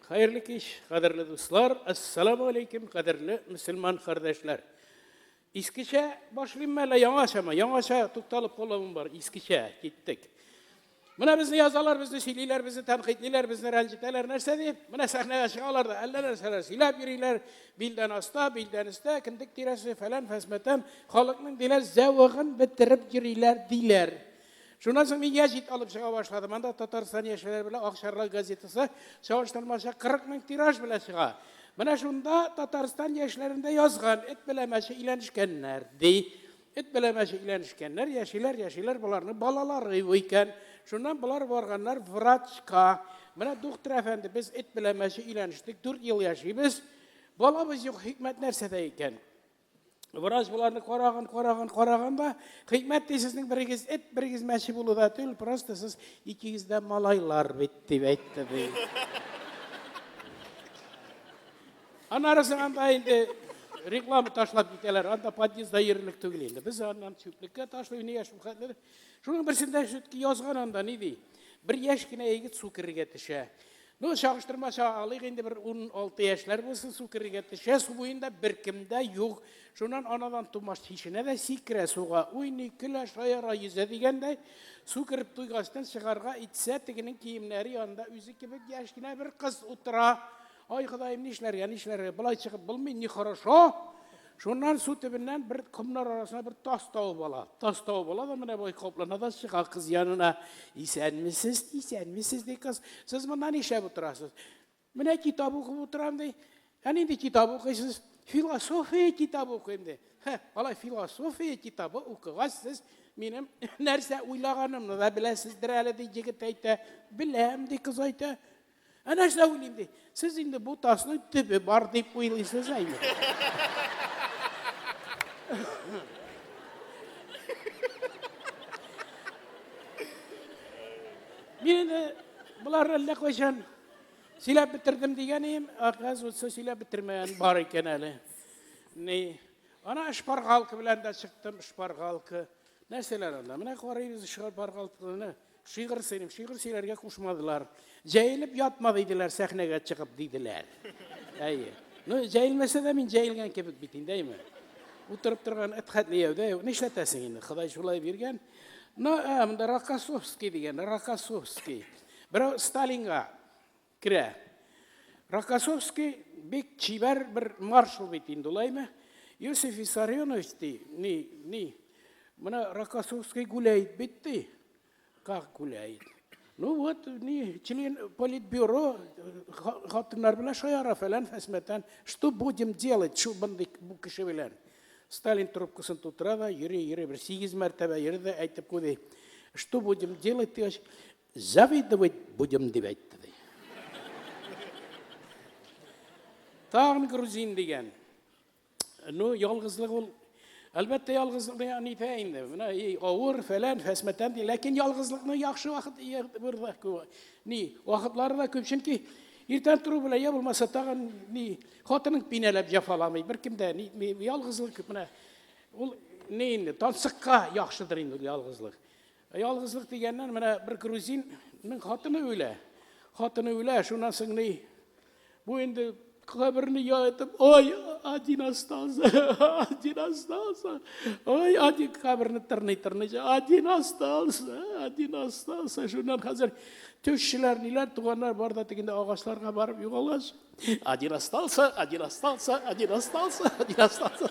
Хәерле кич, кадерле дуслар. Ассаламу алейкум, кадерле мусульман кардәшләр. Искечә башлыйм әле яңачама, яңача тукталып калуым бар. Искечә киттек. Менә безне язалар, безне сөйлиләр, безне тәнкыйтьлиләр, безне рәнҗетәләр, нәрсә дип? Менә сәхнәгә чыгалар да әллә нәрсәләр сөйләп йөриләр, билдән аста, билдән өстә, кендек тирәсе, фәлән, фәсмәтән, халыкның диләр зәвыгын бетереп йөриләр, диләр. Шуннан соң мин яҗит алып чыга башладым. Анда Татарстан яшьләре белән Акчарлак газетасы чагыштырмача 40 мең тираж белән чыга. Менә шунда Татарстан яшьләрендә язган, эт белән мәче иләнешкәннәр, ди. Эт белән мәшекләнешкәннәр, яшиләр, яшиләр, боларның балалары юк икән. Шуннан болар барганнар врачка. Менә доктор әфәнде, без эт белән мәче иләнештек, дүрт ел яшибез. Балабыз юк, хикмәт нәрсәдә икән? Врач боларны караган, караган, караган да, хикмәт ди сезнең берегез эт, берегез мәче булуда түгел, просто сез икегез дә малайлар бит дип әйтте ди. Анарысы анда инде реклама ташлап китәләр. Анда подъездда йөрерлек түгел инде. Без аннан чүплеккә ташлый, нигә шулхәтле. Шуның берсендә шүтки язган анда ни ди? Бер яшь кенә егет су керергә төшә. Ну, чагыштырмача алыйк инде бер 16 яшьләр булсын, су керергә төшә, су буенда беркемдә юк. Шуннан анадан тумаш чишенә дә сикерә суга, уйный, көлә, шаяра, йөзә дигәндәй, су кереп туйгачтан чыгарга итсә, тегенең киемнәре янында үзе кебек яшь кенә бер кыз утыра. Ай, Ходаем, нишләргә, нишләргә? Болай чыгып булмый, ни хорошо. Шуннан су төбеннән бер комнар арасына бер тас табып ала. Тас табып ала да менә бай каплана да чыга кыз янына. Исәнмесез, исәнмесез ди кыз. Сез монда нишләп утырасыз? Менә китап укып утырам ди. Ә нинди китап укыйсыз? Философия китабы укыйм ди. Хә, алай философия китабы укыгач сез минем нәрсә уйлаганымны да беләсездер әле ди егет әйтә. Беләм ди кыз әйтә. Әнә шулай уйлыйм ди. Сез инде бу тасның төбе бар дип уйлыйсыз ә инде. Мин инде болар әллә кайчан сөйләп бетердем дигән идем, оказывается, сөйләп бетермәгән бар икән әле. Ни, ана шпаргалка белән дә чыктым, шпаргалка. Нәрсәләр анда? Менә карыйбыз шпаргалканы. Шигырь сөйлим, шигырь сөйләргә кушмадылар. Җәелеп ятма диделәр, сәхнәгә чыгып диделәр. Әйе. Ну, җәелмәсә дә мин җәелгән кебек бит инде, әйме. Утырып торган эт хәтле яудә юк. Нишләтәсең инде, Ходай шулай биргән. Ну, ә, монда Рокоссовский дигән, Рокоссовский. Берәү Сталинга Керә. Рокоссовский бик чибәр бер маршал бит инде, улаймы? Йосиф Виссарионович ди, ни, ни, мына Рокоссовский гуляет бит ди. Как гуляет? Ну вот, ни, член политбюро, хатыннар белән шаяра фәлән фәсмәтән. Что будем делать, шу бынды бу кеше белән? Сталин трубкасын тутыра да, йөри, йөри, бер сигез мәртәбә йөри дә әйтеп куйды. Что будем делать, дигәч, Завидовать будем, дип әйтте, ди. Тагын грузин дигән. Ну, ялгызлык ул Әлбәттә, ялгызлыкны яны итә инде. Менә и авыр, фәлән, фәсмәтән ди. Ләкин ялгызлыкны яхшы вакыт бер дә күп. Ни, вакытлары да күп, чөнки иртән тору белән я булмаса тагын ни, хатының пинәләп җафаламый, беркем дә ни, ялгызлык күп менә. Ул ни инде, тансыкка яхшыдыр инде ялгызлык. Ялгызлык дигәннән менә бер грузинның хатыны үлә. Хатыны үлә, шуннан соң ни? Бу инде каберне яетып, ой, один остался, один остался, ой, один каберне тырный-тырный, один остался, один остался. Шуннан хәзер төшчеләр, ниләр, туганнар бар да тегендә агачларга барып югалгач, один остался, один остался, один остался, один остался.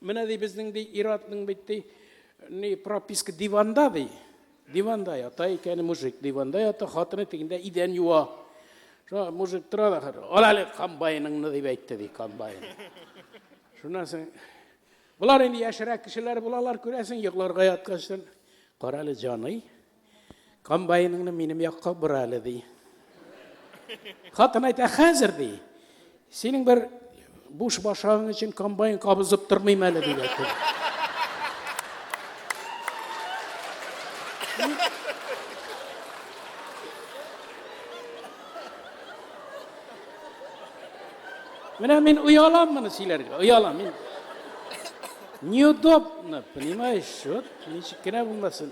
Менә ди безнең ди ир-атның бит ди ни прописка диванда ди. Диванда ята икән мужик, диванда ята, хатыны тегендә идән юа. Шуңа мужик тора да хәзер, ал әле комбайныңны дип әйтте ди комбайн. Шуннан соң болар инде яшьрәк кешеләр булалар, күрәсең, йокларга ятканчтан, кара әле җаный, Комбайныңны минем якка бор әле, ди. Хатын әйтә, хәзер, ди. Синең бер буш башагың өчен комбайн кабызып тормыйм әле, ди. Менә мин оялам моны сөйләргә, оялам мин. Неудобно, понимаешь, вот, ничек кенә булмасын.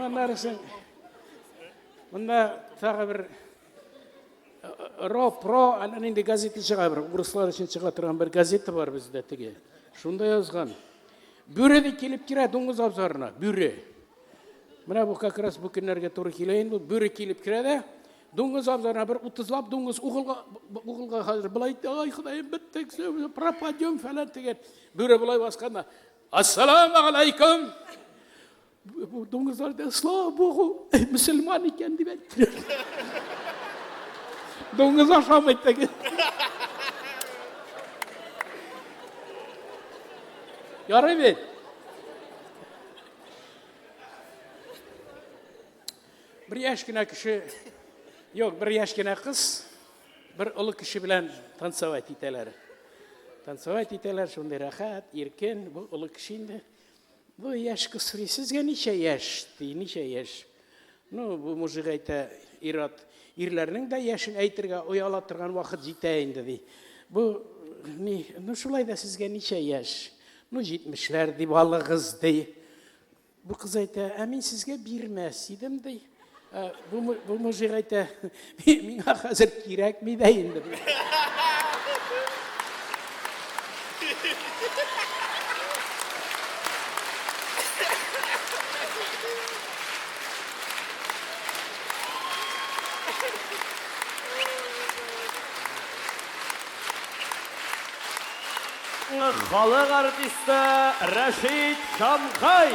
Аннарысын монда тагы бер ро про әллә нинди газета чыга бер урыслар өчен чыга торган бер газета бар бездә теге шунда язган бүре ди килеп керә дуңгыз абзарына бүре менә бу как раз бу көннәргә туры килә инде бүре килеп керә дә дуңгыз абзарына бер утызлап дуңгыз угылга угылга хәзер былай ай ходаем беттек пропадем фәлән дигән бүре былай басканда Ассаламу алейкум! Бу дуңгызлар да слава богу, мөселман икән дип әйтте. Дуңгыз ашамый теге. Ярый бит. Бер яшь кенә кеше, юк, бер яшь кенә кыз Бер олы кеше белән танцевать итәләр. Танцевать итәләр, шундый рәхәт, иркен. Бу олы кеше инде. Бу яшь кыз сорый, сезгә ничә яшь? Ди, ничә яшь? Ну, бу мужик әйтә, ират, ирләрнең дә яшен әйтергә ояла торган вакыт җитә инде, ди. Бу, ни, ну, шулай да сезгә ничә яшь? Ну, җитмешләр, ди, балыгыз, ди. Бу кыз әйтә, ә мин сезгә бирмәс идем, ди. Ә, бу, бу мужик әйтә, миңа хәзер кирәкми дә инде. Халык артисты Рәшит Шамхай.